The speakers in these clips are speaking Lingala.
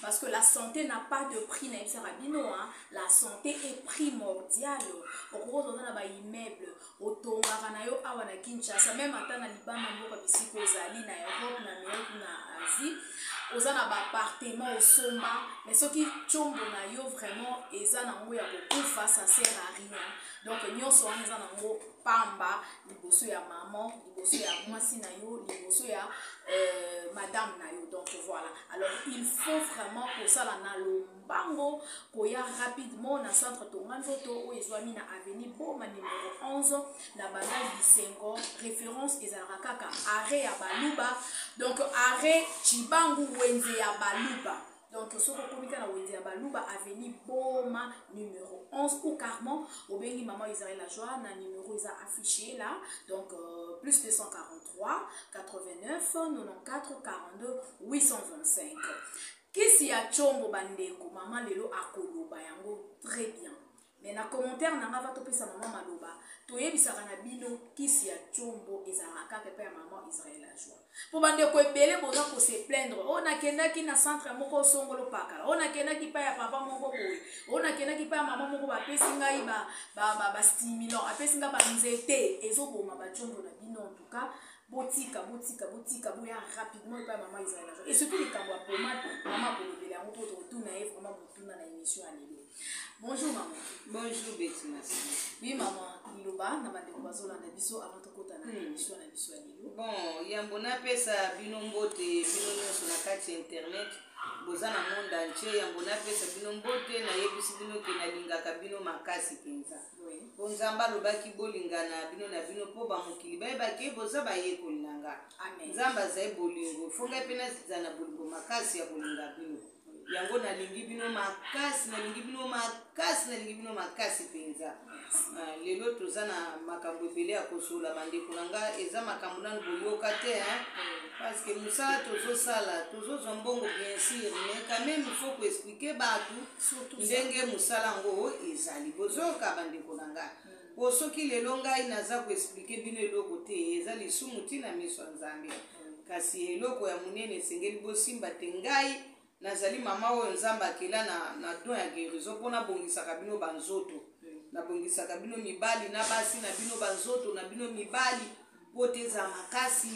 Parce que la santé n'a pas de prix na yebisaka bino hein. la santé est primordiale okokoza oza na ba immeuble otongaka na yo awa na kinshasa meme ata na libanda mboka bisika ozali na europe na amerique na asie oza na baappartement osomba mais soki combo na yo vraiment eza nango ya kokufa ça sert à rien donc nyonso wana eza nango pamba liboso ya maman liboso ya mwasi na yo liboso ya euh, madame na yo donc voilà alors il faut vraiment kosala na lombango koya rapidement na centre tonga nzoto oyo ezwami na avenue boma numero 11 na banda bisengo référence ezalaka kaka arret ya baluba donc arret cibangu wenze ya baluba donc soki okomi ka na wenze ya baluba aveni boma numero 11 ou carment obengi mama israel la joie na numero eza affiche la donc euh, plus 243 89 94 42 825 kisi ya combo bandeko mama lelo akoloba yango très bien mais na commentaire na nga va topesa mama maloba toyebisaka na bino kisi ya combo ezalaka kaka epai ya mama israel ajua mpo bandeko ebele boza kose plaindre oyo oh, nakendaki na centre moko osongolo pakala oyo oh, nakendaki epai ya papa moko boye oyo oh, nakendaki epai ya mama moko bapesi ngai bastimulant apesi ngai banzete ezoboma bacombo na bino entuka botika botika botika boya rapidement epai ya mama israel ajua esoki likambo ya pomade mama akolobela yango mpo tokotuna ye vraimen motuna na émission ya lelo Bonjour maman. Bonjour Betty Merci. Oui maman, biloba na bandeko bazolanda biso avant tokota na hmm. émission na biso ya lelo. Bon, yambo napesa bino mbote bino nyonso na kati ya internet boza na monde entier yambo napesa bino mbote nayebisi bino ke nalingaka bino makasi mpenza mpo nzambe alobaki bolingana bino na bino mpo bamokili bayebaki boza bayekoli na nga nzambe azali bolingo fo ngai mpe nazala na bolingo makasi ya kolinga bino yango nalingi bino makasi nalingi bino makasi nalingi bino makasi mpenza ah, lelo toza na makambo ebele ya kosola bandeko na nga eza makambo nano boyoka te parce que mosala tozosala tozozwa mbongo bien sûr mais quand même il faut koexplike bato ndenge mosala yango ezali bozoyoka bandeko na nga po soki lelo ngai naza ko expliquer bino eloko te eza lisumu ti na miso ya nzambe kasi eloko ya monene esengeli bosimba te ngai nazali mama oyo nzambe akela na, na don ya guérison mpo nabongisaka bino banzoto nabongisaka bino mibali na basi na bino banzoto na bino mibali mpo te ezala makasi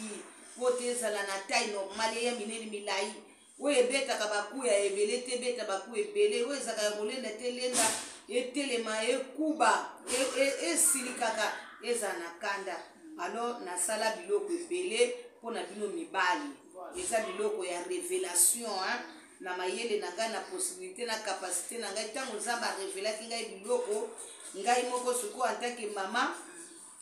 mpo te ezala na tai normale ya minene milai oyo ebetaka baku ya ebele te ebeta baku ebele oyo ezalaka ya kolenda te elenda etelema ekuba e, e, esilikaka ezala na kanda alo nasala biloko ebele mpo na bino mibali eza biloko ya revelation hein? na mayele na ngai na possibilité na capacité na ngai ntango nzambe arevelaki ngai biloko ngai moko sikoyo antake mama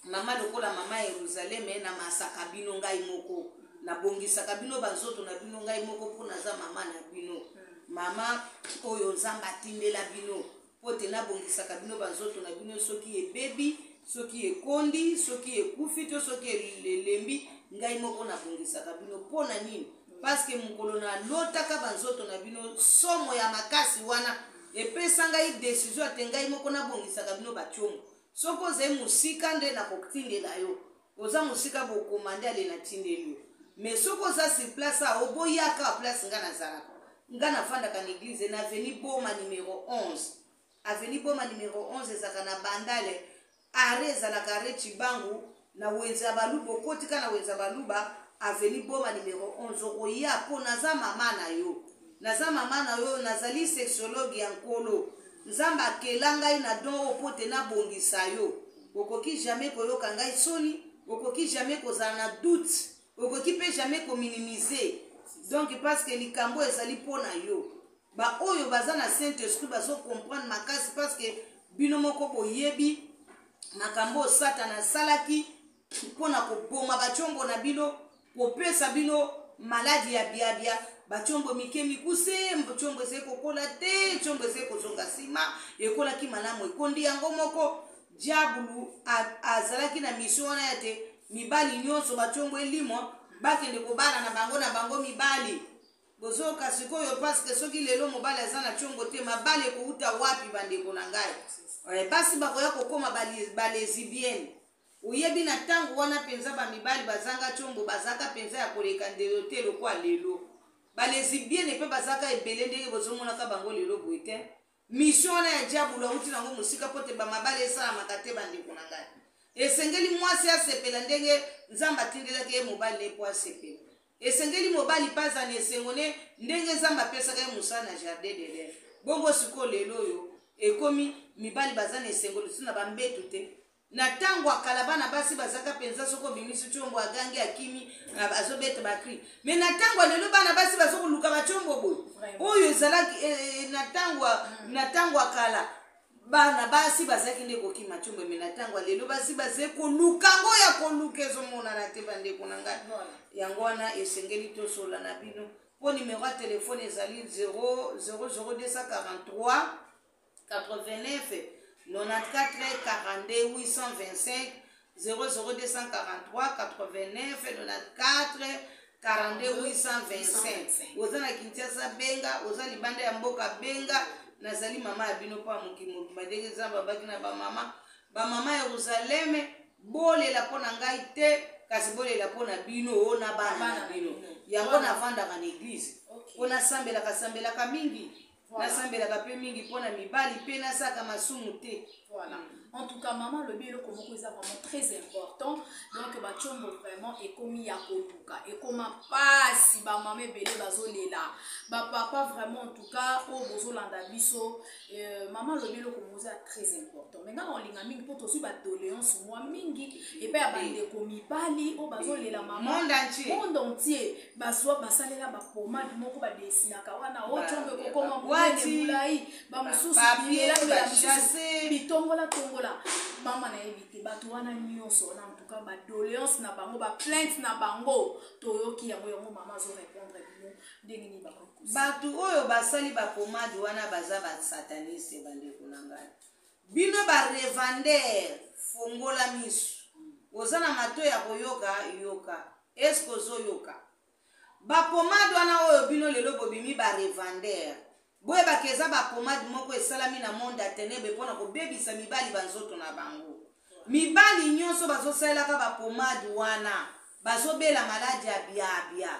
mama lokola mama yeruzaleme na masaka bino ngai moko nabongisaka bino banzoto na bino ngai moko mpo naza mama na bino mama oyo nzambe atindela bino mpo te nabongisaka bino banzoto na bino soki ebebi soki ekondi soki ekufi to soki elembi ngai moko nabongisaka bino mpo na nini paske mokolo nalotaka banzoto na bino somo ya makasi wana epesa ngai desizio ate ngai moko nabongisaka bino bacomo Soki ozali mosika nde nakotindela yo oza mosika bokomande ale natindeli yo mais soki oza sur place a oboyaka place nga nazalaka nga nafandaka na eglise na aveni boma numero 11 aveni boma numero 11 ezalaka na bandale are ezalaka are cibangu na wenze ya baluba okoti ka na wenze ya baluba aveni boma numero 11 okoya mpo naza mama na yo naza mama na yo nazali sexologue ya nkolo nzambe akela ngai na don oyo mpo te nabongisa yo okoki jamais koyoka ngai soni okoki jamais kozala na doute okoki mpe jamais kominimize donc parce que likambo ezali mpo na yo baoyo baza na saint esprit bazokomprendre makasi parce que bino moko boyebi makambo oyo satana asalaki mpo na koboma bacombo na bino kopesa bino maladi ya biabia bacombo mike mikuse combo ezali kokola te combo ezali kozonga nsima ekolaki malamu ekondi yango moko diabulu azalaki na misio wana ya te mibali nyonso bacombo elimwa bakende kobala na bango na bango mibali Bozoka sikoyo parce que soki lelo mobali aza na chongo te mabali ekouta wapi bandeko na ngai eh, basi bakoya kokoma balezibienne oyebi na ntango wana mpenza bamibali bazanga chombo bazaka mpenza ya koleka ndelo te lokwa lelo balezibienne mpe bazaka ebele ndenge bozomonaka bango lelo boye te Mission wana ya diabulu awuti nango mosika mpo te bamabala esalamaka te bandeko na ngai. Esengeli mwasi asepela ndenge Nzambe atindelaki ye mobali ne mpo asepela. Esengeli mobali mpe azala na esengo ne ndenge Nzambe apesaka ye mosala na jardin de reve. Bongo sikoyo lelo oyo ekomi mibali baza na esengo lisusu na bambetu te? Na tango ya kala bana basi bazaka penza soki obimisi chombo agangi akimi azobeta ba cri. Mais na tango ya lelo bana basi bazokoluka ba chombo boye. Oyo ezalaki eh, eh, na tango mm. na tango ya kala bana basi bazalaki nde kokima chombo mais na tango ya lelo basi bazali koluka ngo ya koluka ezomonana te bandeko na ngai. Yango wana esengeli tosola na bino. Mpo numero ya telefone ezali 00243 89 94 42 825 00243 89 94 42825 oza na kinshasa benga oza libanda ya mboka benga nazali mama ya bino mpo ya mokili mobimba ndenge nzambe abaki na bamama bamama yeruzaleme bolela mpo na ngai te kasi bolela mpo na bino o na bana na bino yango navandaka na eglize mpo nasambelaka sambelaka mingi nasambelaka mpe mingi mpo na mibali mpe nasaka masumu te voilà en tout cas mama alobi eloko moko eza vraiment très important donc bacombo vraiment ekomi ya koluka ekoma mpasi bamama ebele bazolela bapapa vraiment en tout cas oyo oh, bozolanda biso euh, mama alobi eloko moko eza très important mai ngai olinga mingi mpo tozwi badoléance mwa mingi epai ya bandeko mibali oyo oh, bazolela mama monde entier bazwa basalela bapomade moko badesinaka wana ocongo ekokoma monene molai bamosusu biyelamela mosusu bitongolatongola mama nayebi te bato wana nyonso wana antuka badoleance na bango baplainte na bango toyoki yango yango mama azo répondre bino ndenge nini bakoki bato oyo basali bapomade wana baza basataniste bandeko na ngai Bino ba revendeur fongola misu oza na mato ya koyoka yoka esk ozo yoka ba pomade wana oyo bino lelo bobimi ba revendeur boyeba ke eza ba pomade moko esalami na monde ya tenebe pona kobebisa mibali ba nzoto na bango mibali nyonso bazosalelaka ba pomade wana bazobela maladi ya biabia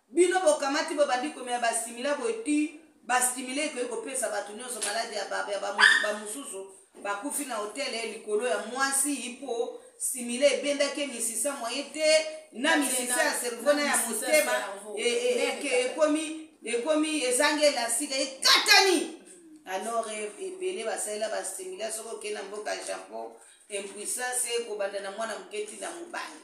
Bino bokamati bobandi komela ba stimila boye ti ba stimila ekoki kopesa bato nyonso maladi ya baba ya bamosusu bakufi na hotel eh, likolo ya mwasi po stimila ebendaki misisa moye te na misisa ya cerveau na ya motema ekomi ekomi ezangi elastika ekatani alors ebele basalela ba stimila soki okei na mboka ya japon impuissance ekobanda na mwana moke ti na mobali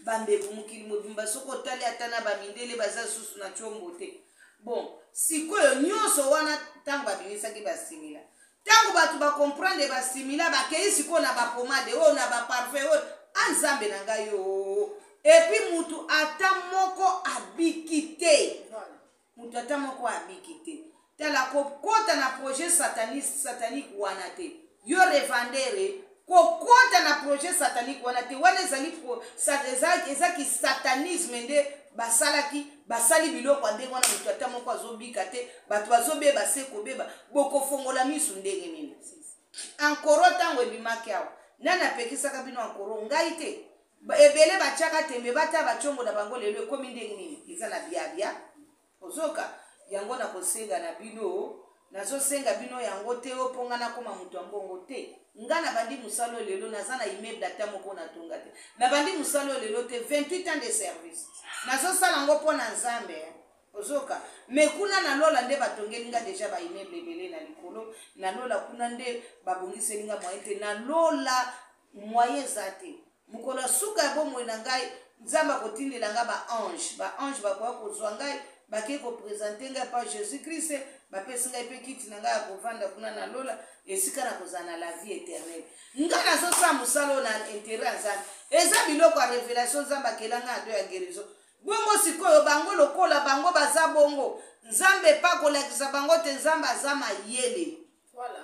bandeko mokili mobimba soki otali ata na bamindele baza lisusu na tiombo te bon sikoyo nyonso wana ntango babimisaki basimila ntango bato bakomprendre basimila bakei sikoyo na bapomade oyo na baparfe oyo anzambe ah, na ngai yo epuis motu ata moko abiki te moto ata moko abiki te tala kokota na projet sataniste satanique wana te yo revandere kokota na projet satanique wana te wana ezali eza kisatanisme nde basalaki basali biloko ya ndenge wana moto ata moko azobika te bato bazobeba se kobeba bokofongola miso ndenge nini Ankoro ntango ebimaki awa, nani apekisaka bino ankoro? Ngai te. Ebele batiaka tembe, bata ba congo na bango lelo ekomi ndenge nini? Eza na biabia. Ozoka? Yango na kosenga na bino, nazo senga bino yango te o mpo nga nakoma moto ya mbongo te. Nga na bandi mosala oyo lelo, naza na immeuble ata moko na tonga te. Na bandi mosala oyo lelo te, 28 ans de service. Nazo sala yango mpo na Nzambe. Ozoka mais kuna na lola nde batongeli nga deja ba immeuble ebele na likolo na lola kuna nde babongiseli nga moyen te na lola moyen eza te mokolo ya suka ya bomoi na ngai nzambe akotindela ngai baange baange bakoya kozwa ngai bakei kopresente ngai epai jésus krist bapesi ngai mpe kiti na ngai ya kovanda kuna na lola esika na kozala na la vie éternel ngai nazosala mosala oyo na intere ya nzambe eza biloko ya révélation nzambe akela ngai ado ya guérison Bongo sikoyo bango lokola bango baza bongo nzambe pe akolakisa bango te nzambe aza mayele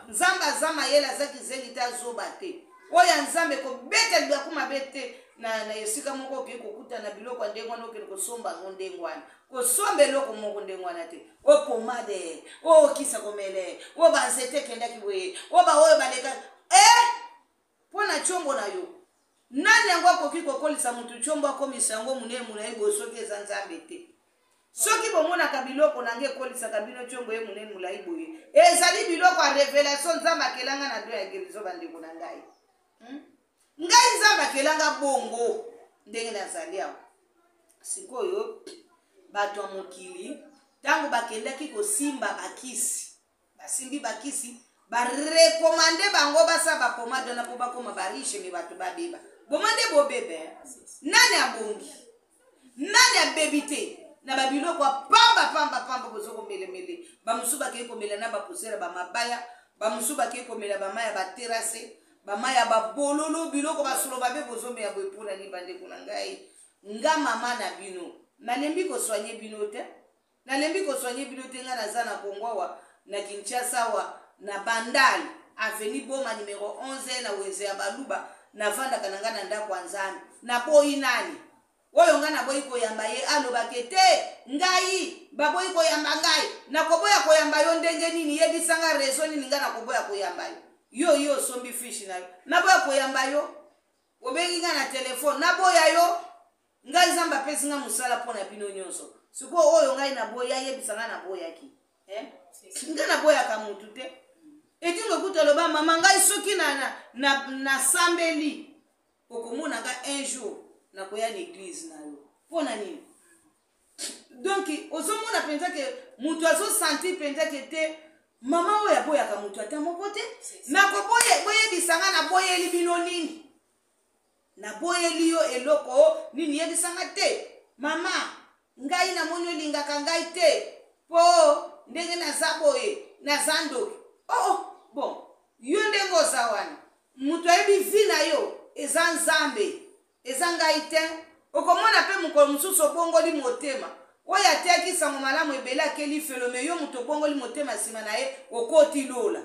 nzambe aza mayele aza kizengi te azoba te oyo ya nzambe kobeta libaku mabe te na, na esika moko okei kokuta na biloko ya ndenge wana okende kosomba yango ndenge wana kosomba eloko moko ndenge wana te o pomade o okisa komele o banzete ekendaki boye o baoyo baleka e eh! Mpo na tshombo na yo. Nani yango akoki kokolisa moto tshombo akomisa yango monene molai boye soki eza Nzambe te? Soki bomonaka biloko na ngai ekolisaka bino tshombo ye monene molai boye, ezali biloko ya revelation Nzambe akela ngai na do ya gerizo, bandeko na ngai. Hmm? Ngai Nzambe akela ngai bongo ndenge nazali awa sikoyo bato ya mokili ntango bakendaki kosimba bakisi basimbi bakisi barekomande bango basala bapomade wana mpo bakoma bariche me bato babeba boma nde bobebe nani abongi nani abebi te na babiloko ya pamba pamba pamba bozo komelemele bamosusu bakei komela na bapusela bamabaya bamosusu bakei komela bama ya baterase bama ya babololo biloko basolo babe bozomela boye mpo na nini bandeko na ngai nga mama na bino nalembi koswanye bino te Na lembi ko soigner bino te nga naza na Congo awa na Kinshasa awa na Bandal avenue Boma numero 11 na wenze ya baluba na vandaka na nga na ndako ya Nzambe na boyi nani oyo nga naboyi koyamba ye aloba ke te ngai baboyi koyamba ngai nakoboya koyamba yo ndenge nini yebisa nga rezo nini nga nakoboya koyamba yo yo yo osombi fishi na yo naboya koyamba yo Obengi nga na telefone, naboya yo. Ngai Nzambe apesi nga mosala mpo na bino nyonso. Sikoyo oyo ngai naboya, ayebisa nga naboyaki. Eh? Nga naboyaka mutu te. Edingo kutu aloba mama ngai soki na, na, na, nasambeli okomona nga un jour nakoya na eglise na yo. Mpo na nini? donk ozomona mpenza ke moto azosanti mpenza ke te mama oyo aboyaka moto ata moko te nakoboyebisa nga naboyeli bino nini naboyeli yo eloko nini yebisa nga te mama ngai namoni olingaka ngai te mpo ndenge naza boye naza ndoki oo oh, oh, bon yo ndenge oza wana moto ayebi vi na yo eza nzambe Eza ngai te. Okomona mpe mokolo mosusu obongoli motema. Oyo ateyaki nsango malamu ebele ake lifelo, me yo moto obongoli motema nsima na ye okoti lola.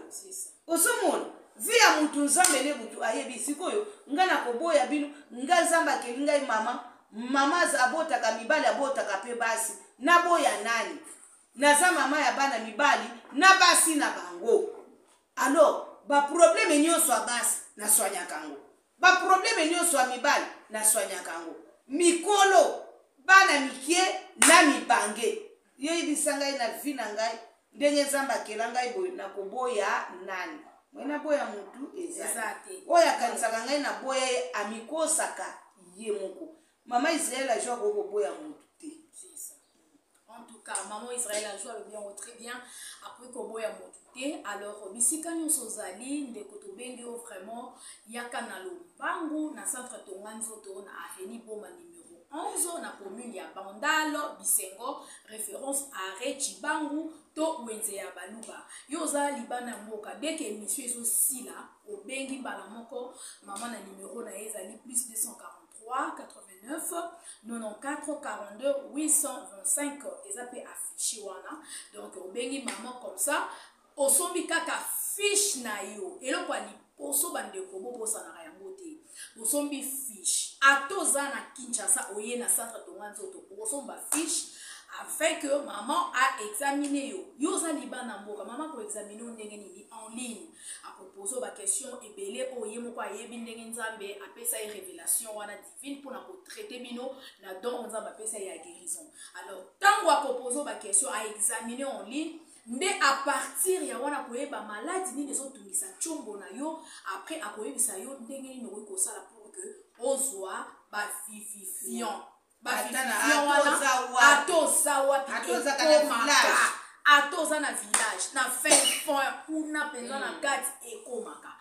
Ozomona? Vi ya moto Nzambe ne moto ayebi. Sikoyo, ngai nakoboya bino, ngai Nzambe akeli ngai mama, mama abotaka mibali, abotaka mpe basi. Naboya nani? Naza mama ya bana mibali na basi na bango. Alors ba probleme nionso ya basi na soignaka yango, ba probleme nionso ya mibali na soignaka yango, mikolo, bana mikie na mibange. Yo yebisa ngai na vie na ngai ndenge Nzambe akela ngai boye na koboya nani? Moi na boya mutu eza te. Oyo akanisaka ngai na boya ye amikosaka ye moko. Maman Israël a joie ko boya mutu. En tout cas, maman Israël a joué le bien, très bien. Après Kobo ya motuke, alors bisika nyonso ozali ndeko tobengi yo vraiment yaka na lombangu na centre tonga nzoto na avenue Boma numéro 11 na commune ya Bandalo Bisengo, référence arrêt Chibangu to wenze ya baluba yo oza libanda ya mboka deke émission ezosila obengi mbala moko mama na numero na ye ezali plus 240 825 eza mpe affiche wana donc obengi mama comme ça osombi kaka fiche na yo eloko ya liboso bandeko bobosanaka yango te bosombi fiche ata oza na kinshasa oye na centre tonga nzoto okosomba fiche afin que maman aexamine yo yo oza libanda mboka mama koexamine yo ndenge nini en ligne akopose yo baquestion ebele oyo ye moko ayebi ndenge nzambe apesa ye révélation wana divine mpona kotraite bino na don oyo nzambe apesa ye ya guérison alors ntango akopose yo baquestion aexamine en ligne nde apartir ya wana koyeba maladi nini ezotungisa ntiombo na yo apres akoyebisa yo ndenge nini okoki kosala pour que ozwa bavivifiant ata oza wapi ekomaka ata oza na village na fin fond kuna mpenza na mm. kati ekomaka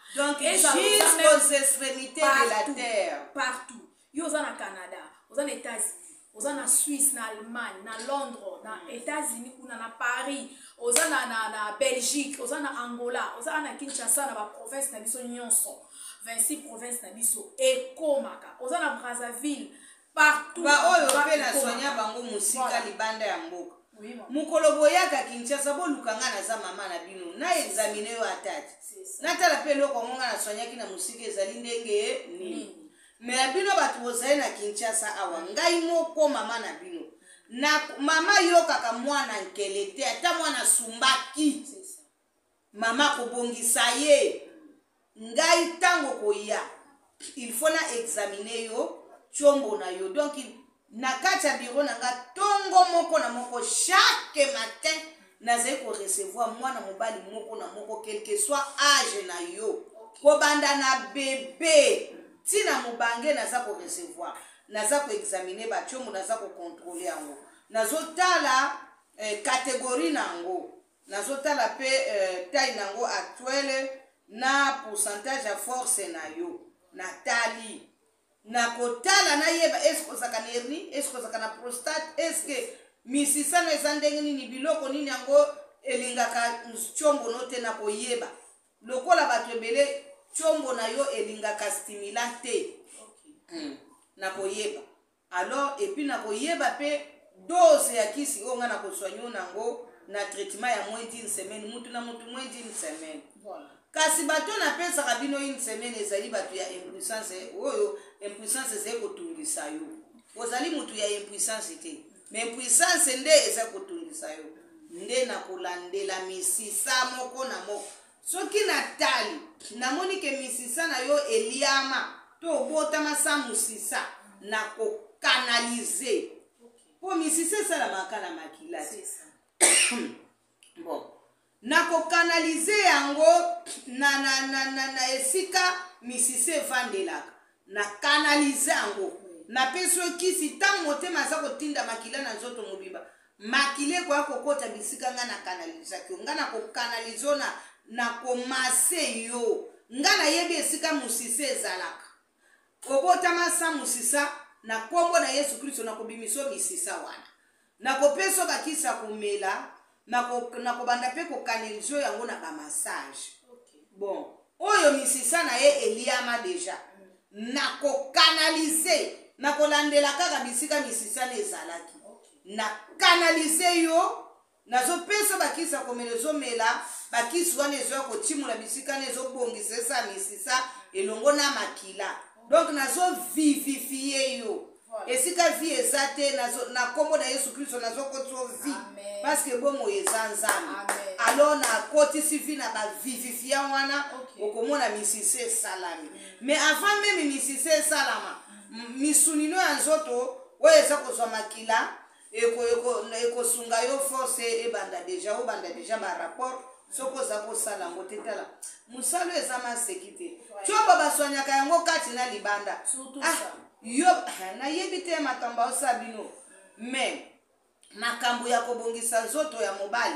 partout yo oza na canada oza na états-unis oza na suisse na allemagne na londres na mm. états-unis kuna na paris oza na, na, na belgique oza na angola oza na kinshasa na baprovince na biso nyonso 26 province na biso ekomaka oza na brazzaville partout baoyo mpe na soigna bango mosika libanda ya mboka mokolo boyaka kinshasa boluka ngai naza mama na bino na examine yo atati natala mpe eloko yango ngai nasoignaki na mosika ezali ndenge nini me ya bino bato bozali na kinshasa awa ngai moko mama na bino na mama yokaka mwana nkele te ata mwana asumbaki Mama kobongisa ye. Ngai tango koya il faut na examiner yo tshombo na yo donc na kati ya bureau na nga tongo moko na moko chaque matin nazali ko recevoir mwana mobali moko na moko quelque soit age na yo kobanda na bebe ti na mobange naza ko recevoir naza ko examiner batshombo naza ko controle yango nazotala eh, categorie na yango Nazo tala pe taille nango actuelle na pourcentage ya force nayo na tali nakotala nayeba eske ozalaka na herni eske ozalaka na prostate eske misisano eza ndenge nini biloko nini yango elingaka ncongo no te nakoyeba lokola bato ebele ncongo na yo elingaka stimulant te okay. mm. nakoyeba Alors epuis nako yeba pe dose ya kisi oyo nga nako soigner yo nango na traitement ya moins d'une semaine mutu na mutu moins d'une semaine. Voilà. Kasi bato na pesaka bino une semaine ezali bato ya impuissance oyo impuissance ezali kotungisa yo. Ozali mutu ya impuissance te. Mais impuissance nde eza kotungisa yo. Nde na kolandela misisa moko na moko. Soki na tali, na moni ke misisa na yo eliama to obotama sans musisa, na ko canaliser. Po misisa esalamaka na makila te. bon. Na ko canaliser yango na, na, na, na, na esika misisa evandelaka. Na canaliser yango. Na pesi yo kisi, tango motema aza ko tinda makila na nzoto mobimba, makila ekoya ko kota bisika ngai na canalisaki yo. Ngai na ko canaliser yo na, na ko masser yo. Ngai na yebi esika musisa ezalaka. Obotama sans musisa, na kombo na Yesu Kristo na ko bimisa yo misisa wana. Nakopesa yo bakisi ya komela, nako, nakobanda mpe kokanelisa yo yango na bamasage. Okay. Bon, oyo misisa na ye eliama deja, mm. nakokanalize, nakolandela kaka bisika misisa na ezalaki. Okay. Nakanalize yo, nazopesa bakisi ya komela, ezomela bakisi wana ezoya kotimola bisika na ezobongisa esa misisa elongo na makila. Okay. Donc nazovivifie yo. esika vie eza te na nkombo na yesu kristo nazokotiso vie parce que bomoi eza nzambe alors nakotisi vie na bavivifia wana okomona misisi esalami mm. mais avant meme misisi esalama mm. misunino ya nzoto oyo eza kozwa makila eko eko ekosunga yo force ebanda deja obanda deja ba rapport soki oza kosala yango te tala mosala eza maseki te coba baswanyaka yango kati na libanda ah, yo ah, nayebi te makambo aosa bino mais makambo ya kobongisa nzoto ya mobali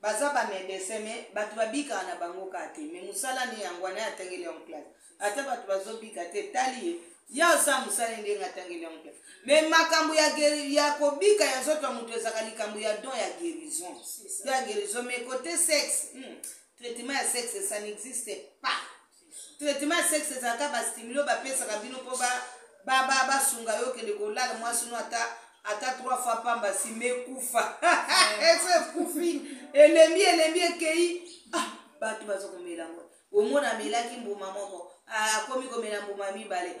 Baza ba medecin mais batu babikaka na bango kaka te mais musala nde yango wana ye atangeli yango classe ata batu bazobika te etali ye ye aza mosali ndenge atangeli yango te mais makambo ya, gueri- ya kobika ya nzoto ya moto ezalaka likambo ya don ya guérison C'est ça. don ya guérison mais kote sexe hmm, traitement ya sexe ça n'existe pas traitement ya sexe ezalaka ba stimulo bapesaka bino mpo basunga yo kende kolala mwasi no ata ata trois fois pamba nsima ekufa esi ekufi elembi elembi ekei ah, bato baza komela yango omona amelaki mbuma moko akomi komela mbuma mibale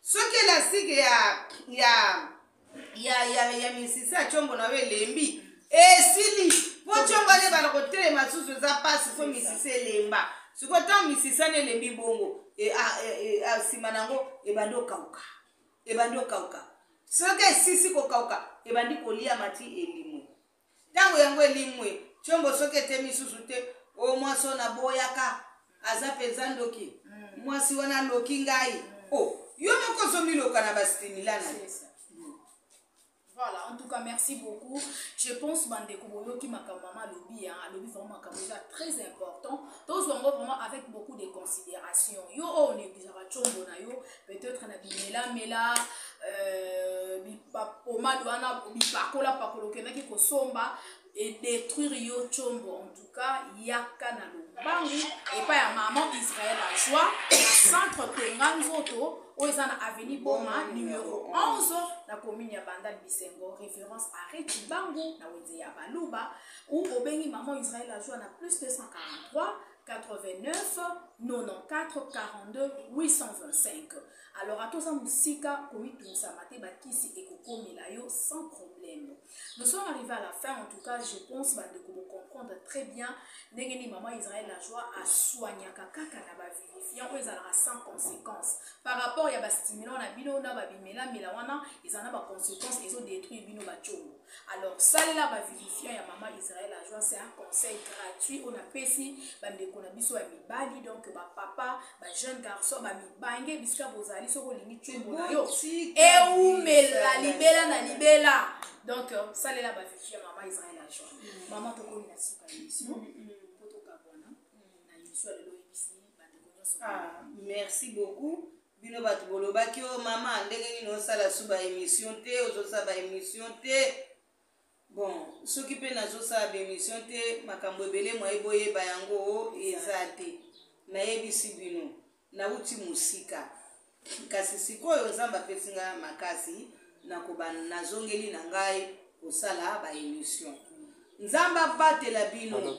soki elastique ya ya ya ya, ya misisi ya chombo na yo elembi esili mpo chombo alebana kotelema susu eza mpasi so misisi elemba sikoyo ntango misisi ana elembi bongo e, nsima e, e, na yango ebandi okauka ebandi okauka soki esisi kokauka ebandi koliama ti elimwe Ntango yango elimwe, tshombo soki etemi lisusu te, o mwasi oyo naboyaka aza mpenza ndoki, mwasi wana aloki ngai. O, yo moko ozomiloka na bastimila na ye. Voilà, en tout cas, merci beaucoup. Je pense bandeko boyoki makambo mama alobi hein, alobi vraiment makambo eza très important. Tozwa yango vraiment avec beaucoup de considération. Yo oyo oh, negligaka tshombo na yo, peut-être na bimelamela euh, bipomade wana bipakola pakola okendaki kosomba edétruire yo combo en tout cas yaka na lobangu epai ya maman israel ajoi na centre tonga nzoto oyo eza na avenue boma numero 11 na commune ya bandal bisengo référence arret cibangu na wenze ya baluba ou obengi maman israel ajoi na plus 243 89 94 42 825 alors ata oza mosika komitungisama te bakisi ekokomela yo sans problème nous sommes arrivé à la fin en tout cas je pense bandeko bocomprendre très bien ndenge nini maman israel la joie asoignaka kaka na bavérifiant oyo ezalaka sans conséquence par rapport ya bastimulant na bino na babimelamela wana eza na baconséquence ezodétruire bino bacongo alors salela ba vivifiant ya mama israel ajoa c'est un conseil gratuit oyo napesi bandeko na biso ya mibali donc bapapa bajeune garçon bamibange bisika bozali soki olingi tumbo na yo eumela libela na libela donc euh, salela ba vivifiant ya mama israel ajoa mm. mama tokomi na suka ya biso mpo mm, mm, tokabwana na yesu alelo oyebisi bandeko nyonso ah, merci beaucoup bino bato bolobaki o oh, mama ndenge nini osala su ba émission te ozosala ba émission te bon soki mpe nazosala ba émission te makambo ebele mwaye boyeba yango oh, eza te nayebisi bino nauti mosika kasi sikoyo nzambe apesi ngai makasi nakoba nazongeli na ngai kosala ba émission nzambe abatela bino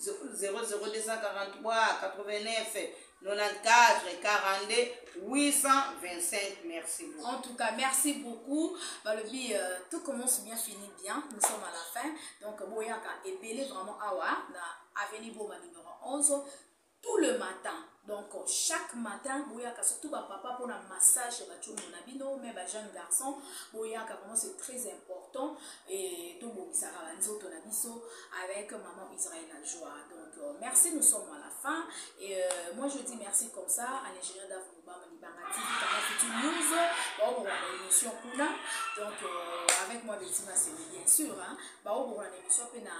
002409 94 42 825 merci beaucoup. en tout cas merci beaucoup balobi euh, tout commence bien fini bien nous sommes à la fin donc boyaka ebele vraiment awa na avenue boma numéro 11 tout le matin donc chaque matin boyaka surtout bapapa mpona massage ya bacongo na bino me bajeune garçon boyaka vraiment c'est très important e tobongisaka banzoto na biso avec maman israel la joie donc euh, merci nous sommes à la fin et euh, moi je dis merci comme ça à l'ingénieur dave mobama libanga tv kanga futur news baobokola na émission kuna donc euh, avec moi betima semi bien sûr baobokola na émission mpe na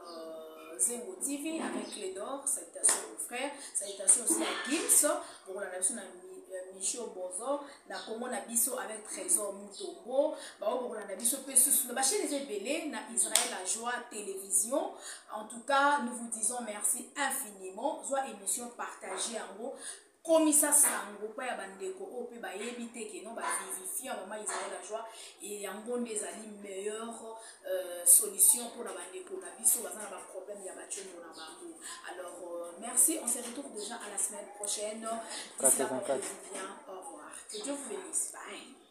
euh, Zengo TV avec Clé d'Or, salutations mon frère, salutations aussi à Gims, bokolanda biso na euh, Micho Bozo, na Congo na biso avec Trésor Mutombo, bao bokolanda biso pe susu na bachaîne eza ebele na Israël la joie télévision. En tout cas, nous vous disons merci infiniment. Zwa émission partagée yango komisa sango epai ya bandeko oyo mpe bayebi te ke non bavivifiant mama israel ajoi yango nde ezali meilleur euh, solution mpona bandeko na biso baza na baproblème ya bacombo na bango alors euh, merci on se retrouve déjà à la semaine prochaine 84 bien au revoir que dieu vous bénisse bye